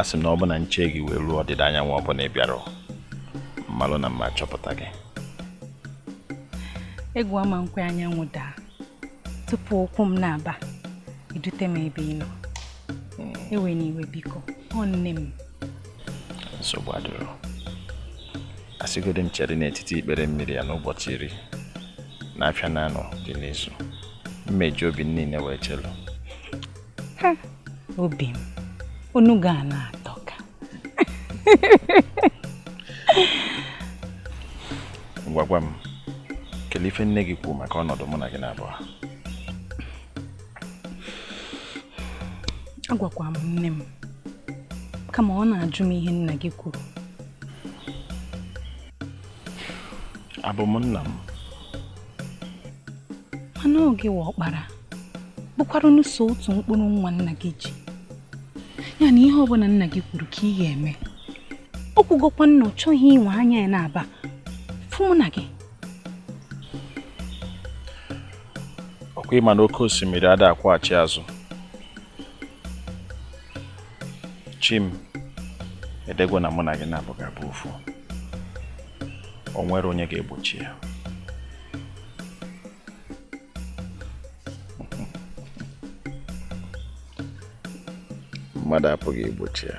asị m na ọ bụ na nche gị wee ruo ọdịda anyanwụ ọ bụ na ị bịara m malụ na m ma achọpụta gị egwu ama m kwe anyanwụ daa tupu ụkwụ m naabọ idute m ebe ị nọ hmm. ewena iwe biko nne m nsogbu adịrọ asịgodi m chere n'etiti ikpere mmiri a n'ụbọchị iri na afịa na anọ dị n'izu m meji obi niile wee chelu obi m ọnụ gị a na-atọka ngwa gwa m kelee ife nne gị kwuru maka ọnọdụ mụ na gị naabọ agwakwa m nne m kama ọ na-ajụ m ihe nna gị kwuru abụ m nna m mana ọ gịwa ọkpara bụkwaranụ sọ otu mkpụrụ nwa nna gị ji ya na ihe ọbụla nna gị kwuru ka ị ga-eme o kwugokwa na ọ chọghị iwe anya ya naabọ fụ mụ na gị ọ kwa ịma na oke osimiri ada akwụghachi azụ chi m edegwo na mụ na gị naabọ ga-abụ ofu o nwere onye ga-egbochi ya mmadụ apụghị igbochi ya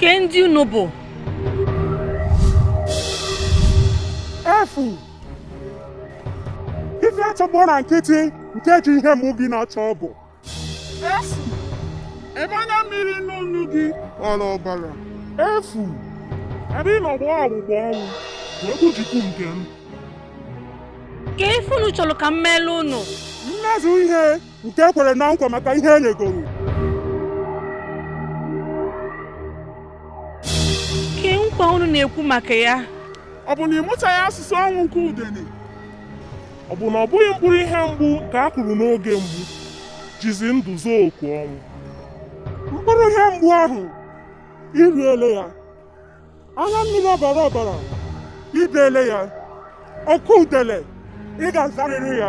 kee ndị unu bụ efu ife achọgbọ na nkịtị nke e ji ihe mụ gị na-achọ bụ efu ebe na mmiri n'ọnụ gị ọla ọbara efu ebe ị nọgba ọgbụgba ọnwụ bụ okwu chukwu nke m kee ife unu chọlụ ka m meelụ unu mezu ihe nke i kwere na nkwa maka ihe e nyegoro kee nkwa unu na-ekwu maka ya ọ bụ na ị mụtaghị asụsụ ọnwụ nke udene ọ bụ na ọ bụghị mkpụrụ ihe mgbu ka a kụrụ n'oge mgbu jizi ndụ zaa oku ọnwụ mkpụrụ ihe mgbu ahụ i riele ya anya mmiri ọbara ọbara i beele ya oku udele ị ga-azarịrị ya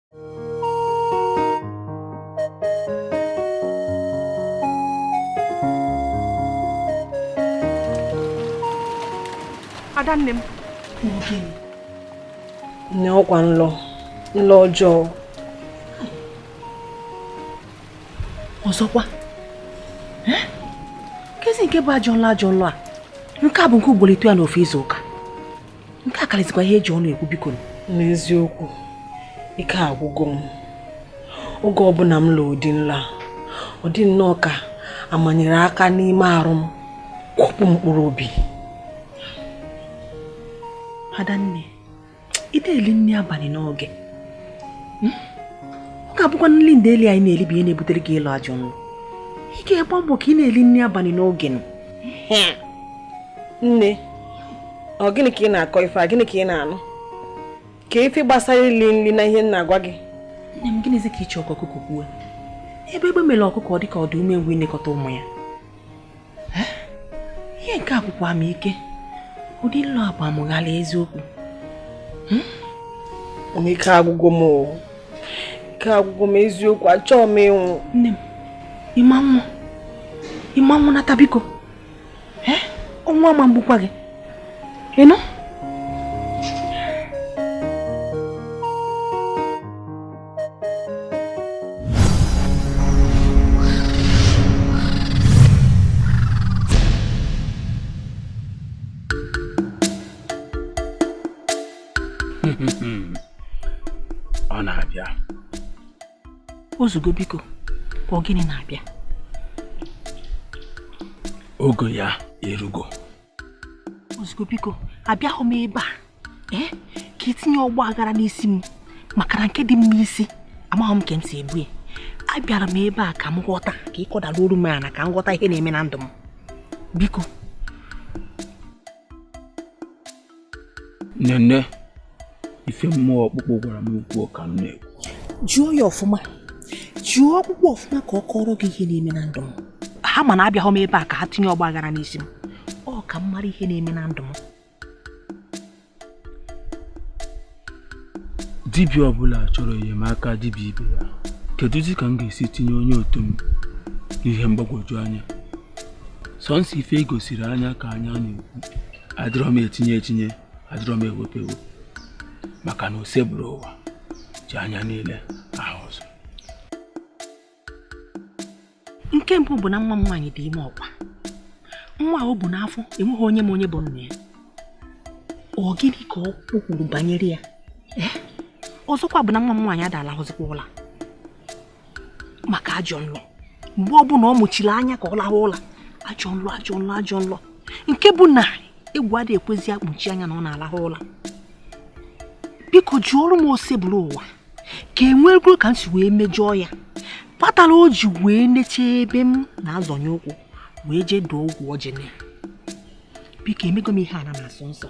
ada nne m nne ọ kwa nlọ nlọ ọjọọ ọzọkwa kezi nke bụ ajọ nlọ ajọ nlọ a nke a bụ nke ugboro ịtọ ya n'ofu izu ụka nke a kalịzikwa ihe e ji ọnụ ekwu biko n'eziokwu ike agwụgo m oge ọbụna m lọ ụdị nlọ a ọ dị nnọọ ka a manyere aka n'ime arụ m kwọpụ mkpụrụ obi adanne ị na-eli nni abanị n'oge hmm? ọ ga-abụkwa nli ndeeli anyị na-eli bụ ihe na-ebutere gị ịlọ ajọ nlọ ị ga-agba mbọ ka ị na-eli nni abanị n'oge nụ hmm. nne ọ gịnị ka ị na-akọ ife a gịnị ka ị na-anụ kee ife gbasara ili nli na ihe m na-agwa gị nne m gịnịzi ka ị chọ ka ọkụkọ kwuo ebe egbe mele ọkụkọ ọ dị ka ọ dị umengwụ inekọta ụmụ ya ihe nke a gwụkwa m ike ụdị nlọ a gba m ghalịị eziokwu hmm? ike agwụgo m ike agwụgo m eziokwu achọọ m ịnwụ nne m ị ma nwụ ị ma nwụ nata biko ọnwụ ama egbukwa gị ị nụ o zugo biko ọ gịnị na-abịa oge ya erugo o zugo biko abịahọ m ebe a ee ka i tinye ọgba aghara n'isi m maka na nke dị m n'isi amahọ m ka m si ebu ya abịara m ebe a ka m ghọta ka ị kọdala olu m ala ka m ghọta ihe na-eme na ndụ m biko nene ife mmụọ ọkpụkpụ gwara m kwuo ka m na-ekwu jụọ ya ọfụma jụọ ọkpụkpụ ọfụma ka ọ kọrọ gị ihe na-eme na ndụ m ha ma na abịahọ m ebe a ka ha tinye ọgba aghara n'isi m ọ ka m mara ihe na-eme na ndụ m dibịa ọbụla chọrọ enyemaka dibịa ibe ya kedụzi ka m ga-esi tinye onye otu m n'ihe mgbagwoju anya sọnsọ ife e gosiri anya ka anya na-ekwu adịrọ m etinye etinye adịrọ m ewepụ ewepụ maka na osebụrụwa ji anya niile ahụ ụzọ nke mbụ bụ na nwa m nwaanyị dị ime ọkwa nwa o bu n'afọ enweghị onye ma onye bụ nna ya ọ gịnị ka o kwuru banyere ya eh? ọzọkwa bụ na nwa m nwaanyị ada alahụzikwa ụla maka ajọ nlọ mgbe ọbụla ọ mụchiri anya ka ọ lahụ ụla ajọ nlọ ajọ nlọ ajọ nlọ nke bụ na egwu adịghị ekwezi akpuchi anya na ọ na-alahụ ụla biko jụọrụ m osebụrụwa ka enwekwuru ka m si wee mejọọ ya kpatara o ji wee neche ebe m na-azọnye ụkwụ wee jee dụọ ọgwụ ọjị na ya biko emego m ihe ana na-asọ nsọ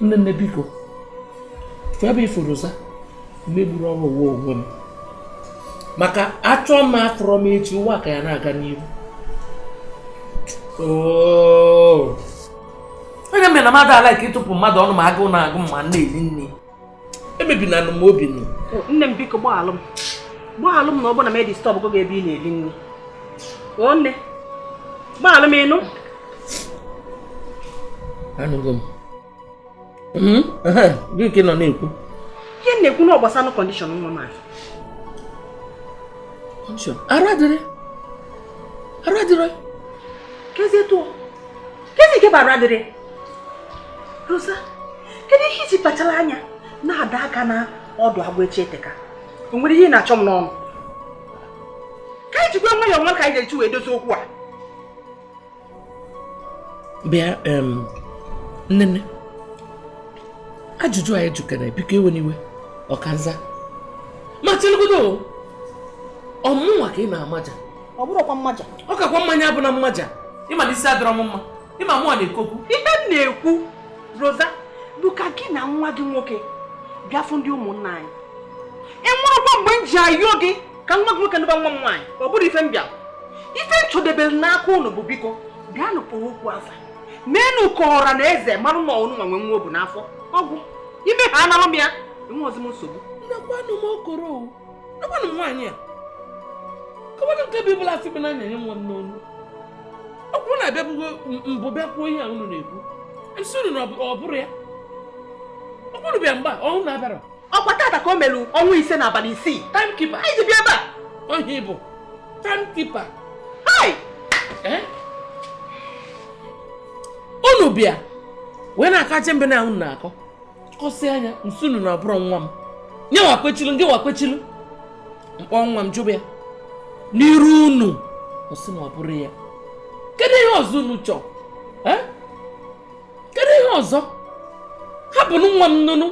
nne nne biko ife a bụ ife roza megburu ọrụ ụwa onwe m maka achọ m afụrọ m echi ụwa ka ya na-aga n'ihu onye mere na mmadụ ala ka ịtụpụ mmadụ ọnụ ma agụụ na-agụ m ma m na-eri nri emebinanụ m obi nụ nne m biko gbaalụ m gbaalụ m na ọ bụ na m edisturb gị ebe ị na-eri nri o nne gbaalụ m ị nụ anụgo m hmm? gị nke nọ na-ekwu ihe na-ekwu na ọ gbasanụ condition nwa m ahụ arụ adịrị arụ adịrị kezi etu kezi nke bụ arụ adịrị Rosa, kedu ihe i ji kpachara anya na-ada aka na ọdụ agwọ echi eteka? O nwere ihe ị na-achọ m n'ọnụ? Ka anyị jikwa nwayọọ marụ ka anyị ga-eji wee dozie okwu a. Bịa nnenne ajụjụ anyị jụkere biko ewena iwe ọkanza ma chelugodo ọ mụnwa ka ị na-amaja ọ bụrụkwa mmaja ọ kakwa mma ya abụna mmaja ị malụ na isi adịrọ m mma ịma mụọ na-ekokwu ihe m na-ekwu roza bụ ka gị na nwa gị nwoke bịa fụ ndị ụmụnna anyị enwerọkwa mgbe m ji ayọ gị ka nwa gị nwoke nụba nwa m nwaanyị ọ bụrọ ife m bịa ife m chọdebere n'aka ụnụ bụ biko bịanụ kpọọ okwu afa meenụ ka ọra na eze marụ na ụnụ nwa nwe nwa o bu n'afọ ọ gwụ ime ha anara m ya enwerọzi m nsogbu nakwanụ m okoro Agbanụ m nwaanyị a. Kọwanụ nke bụ ịbụla asị bụ na na-enye nwa m n'ọnụ. Ọ bụrụ na abịabugo mbụ bịa kwuo ihe a unu na-ekwu. Nsị unu na ọ bụrọ ya. Ọ bụrụ bịa mgba ọnwụ na-abịara. Ọkwa tata ka o melu ọnwa ise na abalị isii. Time keeper. Anyị ji bịa ebe a. Ọ gị bụ time keeper. Hai! Eh? Unu bịa wee na-akaje mbe na unu na-akọ. kọsị anya nsị unu na ọ bụrọ nwa m nye wa kwechilu ndị wa kwechilu m kpọọ nwa m jụba ya n'iru unu ọ sị na ọ bụrọ ya kedu ihe ọzọ unu chọọ eh? kedu ihe ọzọ hapụnụ nwa m nụnụ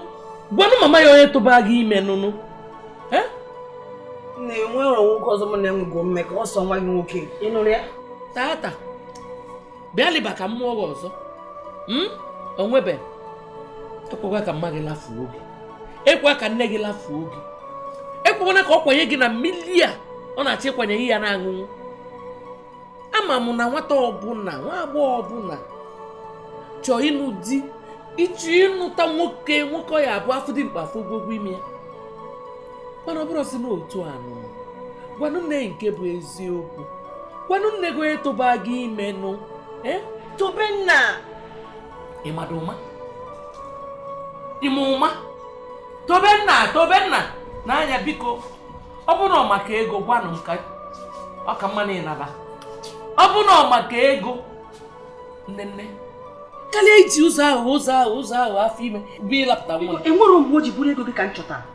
gwanụ mama ya onye tụba gị ime nụnụ eh? na enwerọ nwoke ọzọ mụ na ya nwego mmekọ ọ sọ nwa gị nwoke ị nụrụ ya tata bịalị eba ka m mụọ gị ọzọ hmm? onwebe ekwekwa ka mma gị lafuo gị ekwe ka nne gị lafuo gị ekwekwana ka ọ kwanye gị na mmili a ọ na-achọ ịkwanye gị ya na-aṅụṅụ ama m na nwata ọbụla nwa agbọghọ ọbụla chọọ ịnụ di ịchọ ịnụta nwoke nwoke ọ ya-abụ afụ dimkpa afụ ogonogo imi ya mana ọ bụrọzi na otu a nụ gwanụ nne gị nke bụ eziokwu gwanụ nne gị onye tụba gị ime nụ eh? tobenna ịmada ụma ime ụma tobenna tobenna n'anya biko ọ bụrụ na maka ego gwanụ m ka ọ ka mma na ịnala ọ bụrụ na maka ego nne nne karịa iji ụzọ ahụ ụzọ ahụ ụzọ ahụ afọ ime bịa lapụta nwa enwerọ mgbe o ji bụrụ ego gị ka m chọtara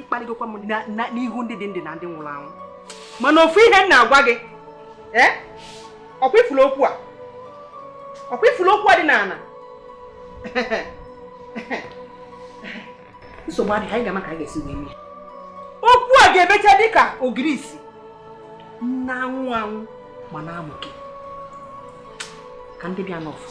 ịkparịgokwa m n'ihu ndị dị ndụ na ndị nwụrụ anwụ mana ofu ihe m na-agwa gị ee ọkwa ị fụrụ okwu a ọkwa ị fụrụ okwu a dị n'ala nsogbu adịghị anyị ga-ama ka anyị ga-esi wee mee okwu a ga-emecha dịka ogirisi na-anwụ anwụ ma na-amụke ka ndị bịa n'ọfụụ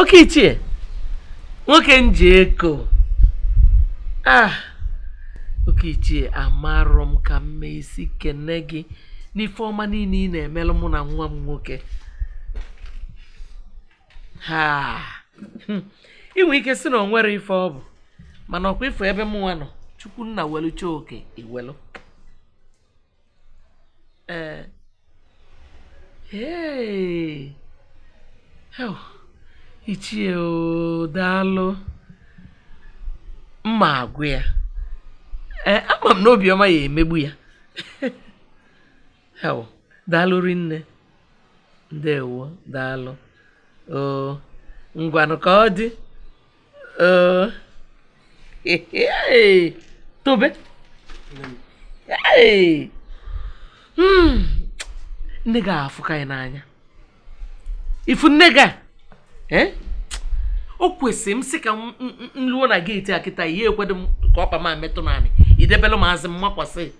oke ichie nwoke m ji eko ah oke ichie amarọ m ka m ma esi kene gị n'ife ọma niile ị na-emelu mụ na nwa m nwoke i nwe ike sị na o nwerọ ife ọ bụ mana ọkwa ị fụ ebe mụnwa nọ chukwu nna welucha oke i welu ee ee ichie daalụ m ma agwa ya ee ama m na obiọma ya emegbu ya daalụ rinne ndewo daalụ oo ngwanụ ka ọ dị oo Ee, tobe Ee. Hmm. nne gị afụka anyị n'anya ị fụ nne gị a eh? o kwesịrị m sị ka m m- m luo na geeti a kịta ihe ekwedo m ka ọkpa m a metụ n'anị i debelụ m azụ m makwasị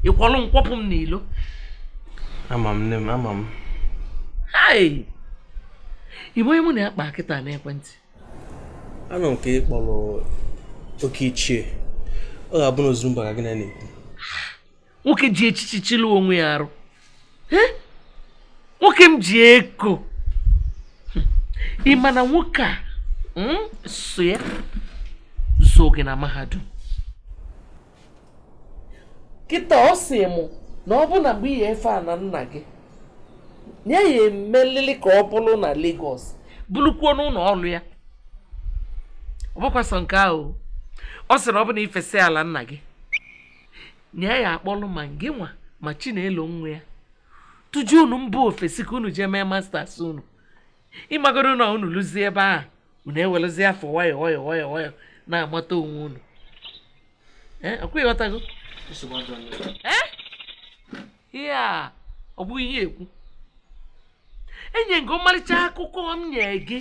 ị kwọlụ m kwọpụ m n'ilo ama m nne m ama m hai ị ma onye mụ na ya kpa kịta n'ekwentị anụ m ka ị kpọrọ oke ichie ọ ga-abụ na ozuru mba ka gị na ya na-ekwu nwoke ji echichi chịlụ onwe ya arụ Eh? nwoke m ji eko Hmm. ị ma na nwoke a mm, sọ ya zụọ gị na mahadum kịta ọ sị mụ na ọ bụ na mgbe ị ya-efe ala nna gị na ya ya-emelili ka ọ bụrụ na Lagos bụrụkwuo n'ụlọ ọrụ ya ọ bụkwa sọ nke ahụ ọ sị na ọ bụ na ị fesịa ala nna gị na ya ya-akpọlụ ma gị nwa ma chinelo nwa ya tụjụ unu mba ofesi ka unu jee mee masters unu ị magoro na unu luzie ebe ahụ unu ewerezie afọ nwayọ nwayọ nwayọ nwayọ na-amata onwe unu ọ kwa ị ghọtago ihe a ọ bụghị ihe ekwu enye gị ọmarịcha akụkọ m nye gị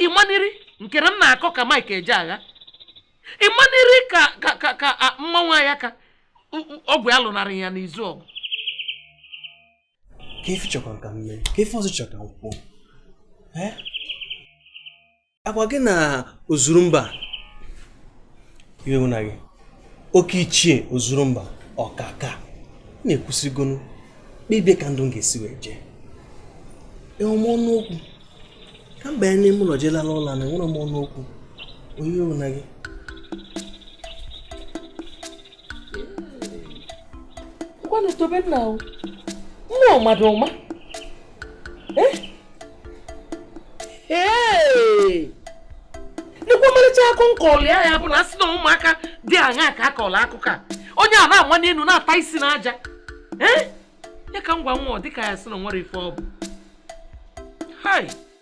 ị maniri nke na m na-akọ ka Mike Ejeagha ị maniri ka ka ka mmanwụ ya ka ọgwụ ya lụnarị ya n'izu ọgụ kee ife ị chọkwara ka m mee kee ife ọzọ ị chọrọ ka m kwuo ọ kwa gị na ozuru mba iwe mụ na gị oke ichie ozuru mba ọkaka na-ekwusịgonu kpebie ka ndụ m ga-esi wee jee enwe m ọnụ okwu ka m banye n'ime ụlọ jee lala ụla na enwerọ m ọnụ okwu onye iwe mụ na gị ngwanụ tobe nna o nne mmadụ ọma nekwa ọmarịcha akụkọ m kọlụ ya ya bụ na a sị na ụmụaka dị aṅa ka a kọrọ akụkọ a onye a na-ama n'elu na-ata isi n'aja ee ya ka m gwa nwa ọ dịka ya sị na o nwere ife ọ bụ hai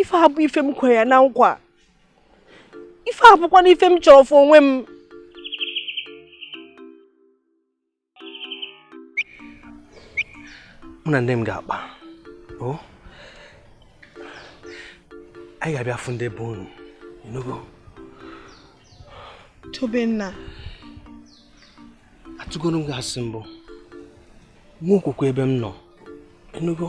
ife a bụ ife m kwere ya na nkwa ife a bụkwa na ife m chọrọ fụ onwe m mụ na nne m ga-akpa o anyị ga-abịa fụ ndị be unu ịnụgo tobenna atụgoro m gị asị mbụ nwee okwukwe ebe m nọ ịnụgo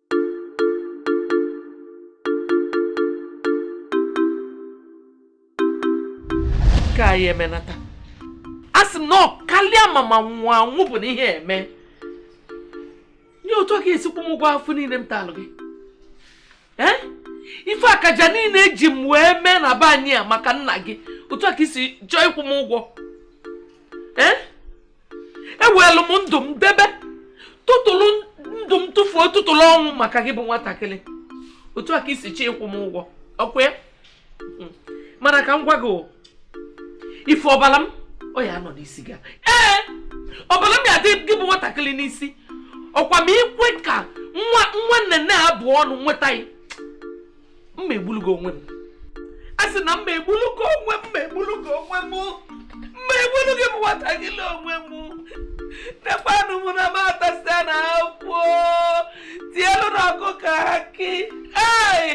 ka anyị emenata a sị m na ọ kalịa mma ma nwụọ anwụ bụ na ihe eme nye otu a ka i si akwụ m ụgwọ afụfụ niile m talụ gị ee ife akaja niile eji m wee mee na be anyị a maka nna gị otu a ka i si chọọ ịkwụ m ụgwọ ee ewelu m ndụ m debe tụtụrụ ndụ m tụfuo tụtụrụ ọnwụ maka gị bụ nwatakịrị otu a ka i si chọọ ịkwụ m ụgwọ ọkwa ya hmm. mana ka m gwa gị ife ọbara m ọ ya-anọ n'isi gị ee ọbara m ya-adị gị bụ nwatakịrị n'isi ọkwa ma ikwe ka nwa nwanne na-abụ ọnụ nweta ya mma egbulugo onwe m a sị na mma egbulugo onwe m mma egbulugo onwe m mma egbulugo m nwata gị le onwe m nekwanụ m na m atasịa na akwụ tielu na ọkụ ka akị ei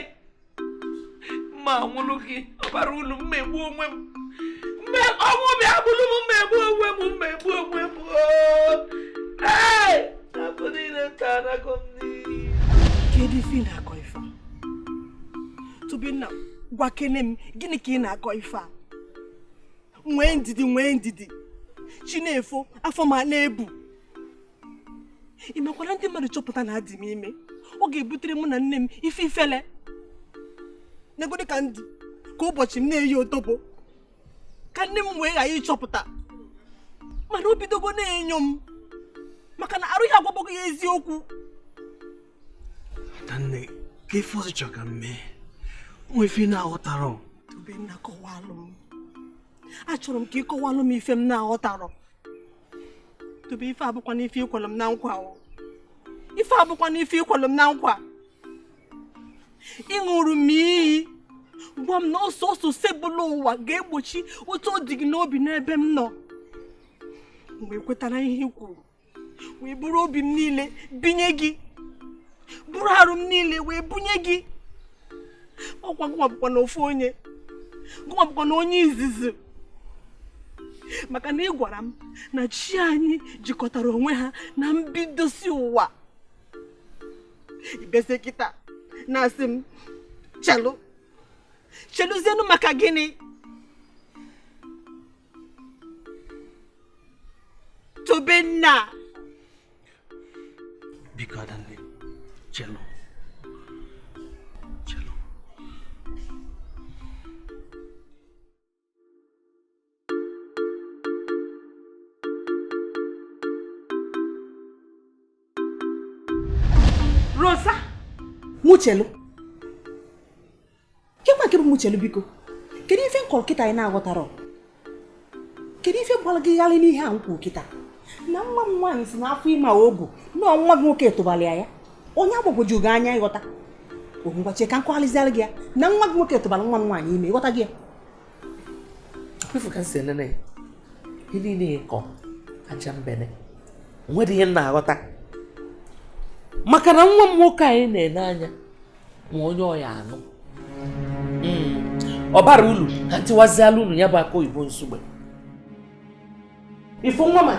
mma nwụrụ gị ọbara ulu mma egbu onwe m mma ọnwụ bịa gbulu m mma egbu onwe m mma egbu onwe m ei na-abụ niile nta anago m n'iyi kedu ife ị na-akọ tobenna gwakene m gịnị ka ị na-akọ ife a nwee ndidi nwee ndidi chi na-efo afọ m na-ebu ị makwara ndị mmadụ chọpụta na adị m ime ọ ga-ebutere mụ na nne m ife ifele negodi ka m dị kwa ụbọchị m na-eyi otobo ka nne m wee ghara ịchọpụta mana o bidogo na-enyo m maka na arụ ya agwabago ya eziokwu adanne kee ife ọzọ ị chọrọ ka m mee nwee ife m na-aghọtarọ tobenna kọwalụ m achọrọ m ka ị kọwalụ m ife m na-aghọtarọ tobe ife abụkwa n'ife ikwelụ m na nkwa ife abụkwa n'ife ikwelụ m na nkwa ịṅụrụ m iyi gwa m na ọ sọọsọ osebuluwa ga-egbochi otu ọ dị gị n'obi n'ebe m nọ m wee kwetara ihe i kwuru wee buru obi m niile bunye gị buru arụ m niile wee bunye gị ọ kwa gụnwa bụkwa na ofu onye gụnwa bụkwa na onye izizi maka na ị gwara m na chi anyị jikọtara onwe ha na mbidosi ụwa ị bịazie kịta na-asị m chelu cheluzienụ maka gịnị Tobenna biko adanne chelụ Rosa mụ chelu kekwa nke bụ mụ chelu biko kedu ife m kọrọ kịta ị na-aghọtarọ kedu ife gbala gị gharị n'ihe a m kwu kịta na nwa m nwaanyị sị na afọ ime o bu na nwa gị nwoke tụbara ya ya ọ na-agbagwoju gị anya ịghọta ngwa chee ka m kọgharịziara gị ya na nwa gị nwoke tụbara nwa m nwaanyị ime ị ghọtago ya ị fụ ka m si enene gị ihe niile ị kọ ajambene o nwedịghị ihe m na-aghọta maka na nwa m nwoke anyị na-ele anya ma onye ọ ya-anụ hmm. ọ bara ulu ka m tiwaziala unu ya bụ akụ oyibo Nsugbe ị fụ nwa m a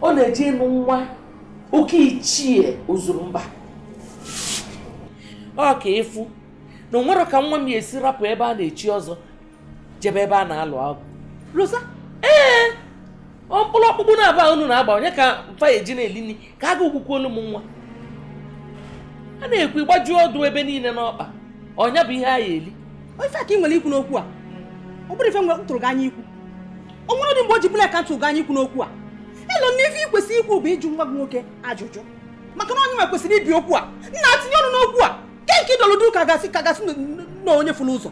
ọ na-eje ịnụ nwa oke ichie ozuru mba ọ ka ị fụ na o nwerọ ka nwa m ya-esi rapụ ebe a na-echi ọzọ jebe ebe a na-alụ agwụ Rosa ee ọ mkpụrụ ọkpụkpụ naabọ a unu na-agba onye ka mfa ya eji na-eli nri ka a ga ogbukwu olu m nwa a na-ekwu ịgbaju ọdụ ebe niile n'ọkpa ọ nya bụ ihe a ya-eli ọ ife a ka ị nwere ikwu n'okwu a ọ bụrọ ife mụnwa tụrụ gị anya ikwu o nwerọdị mgbe o ji bụla ka m tụ gị anya ikwu n'okwu a elo m na ife ị kwesịrị ikwu bụ ịjụ nwa gị nwoke ajụjụ maka na ọ nyanwa kwesịrị ibi okwu a nna tinye ọnụ n'okwu a ke nke ị dọlụ duu ka a ga-asị ka a ga-asị na onye fụrụ ụzọ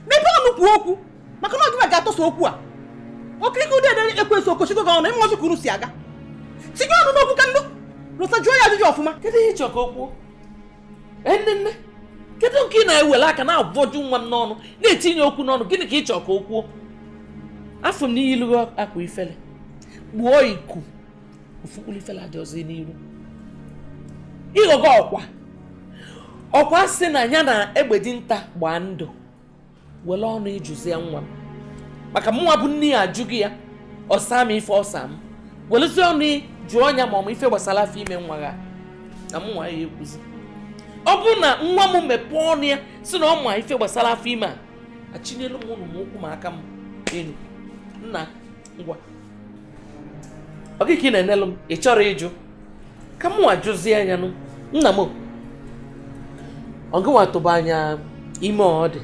mepee ọnụ kwuo okwu maka na ọ gịwa ga-atọsa okwu a okirike ụdị ede ekwesị okochigo gị ọnụ ịmụọchị ka unu si aga tinye ọnụ n'okwu ka ndụ Rosa jụọ ya ajụjụ ọfụma kedu ihe ị chọ ka o kwuo nnenne kedu nke ị na-ewere aka na-abọju nwa m n'ọnụ na-etinye okwu n'ọnụ gịnị ka ị chọrọ ka o kwuo afụ m na i yilugo akwa ifele kpuo iku ofu mkpụrụ ifele adịrọzi n'iru ị ghọgo ọkwa ọkwa sị na ya na egbe dinta gbaa ndụ were ọnụ gị jụzia nwa m maka mụnwa bụ nne ya ajụgo ya ọ sa m ife ọ sa m welụzie ọnụ gị jụọ nya ma ọ ma ife gbasara afọ ime nwa ya na mụnwa ya-ekwuzi ọ bụrụ na nwa m mepee ọnụ ya sị na ọ ma ife gbasara afọ ime a achịnyelu m unu ụkwụ m aka m enu nna ngwa ọ gịnị ka ị na-enelụ m ị chọrọ ịjụ ka mụwa jụzie nya nụ nna m ọ gịnwa tụba nya ime ọ dị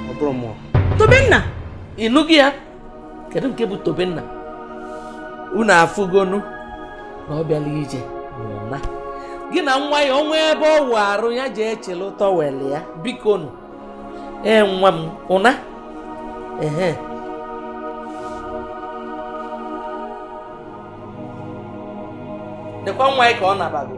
ọ bụrọ mụ o Tobenna ị nụgo ya kedu nke bụ tobenna unu afụgonu na ọ bịala ije na gị na nwaanyị ọnwa ebe ọ wụ arụ ya ji echele towel ya biko nụ ee nwa m ụna ehe nekwa nwaanyị ka ọ nabago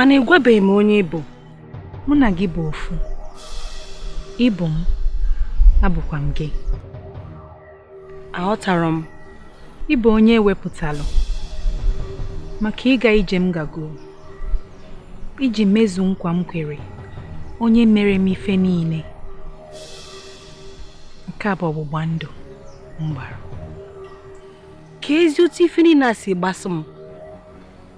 mana ị gwabeghị m onye ị bụ mụ na gị bụ ofu ị bụ m abụkwa m gị aghọtarọ m ị bụ onye e wepụtalụ maka ịga ije m gago iji mezu nkwa m kwere onye mere m ife niile nke a bụ ọgbụgba ndụ m gbara keezi otu ife niile a si gbasa m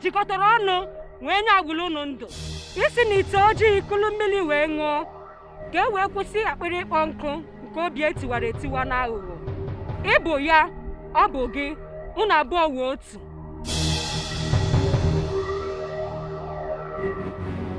jikọtara ọnụ wee nye agbaalụ unu ndụ i si na ite ojii kulu mmili wee ṅụọ ka e wee kwụsị akpịrị ịkpọ nkụ nke obi e tiwara etiwa na aghụghọ ị bụ ya ọ bụ gị unu abụọ wụ otu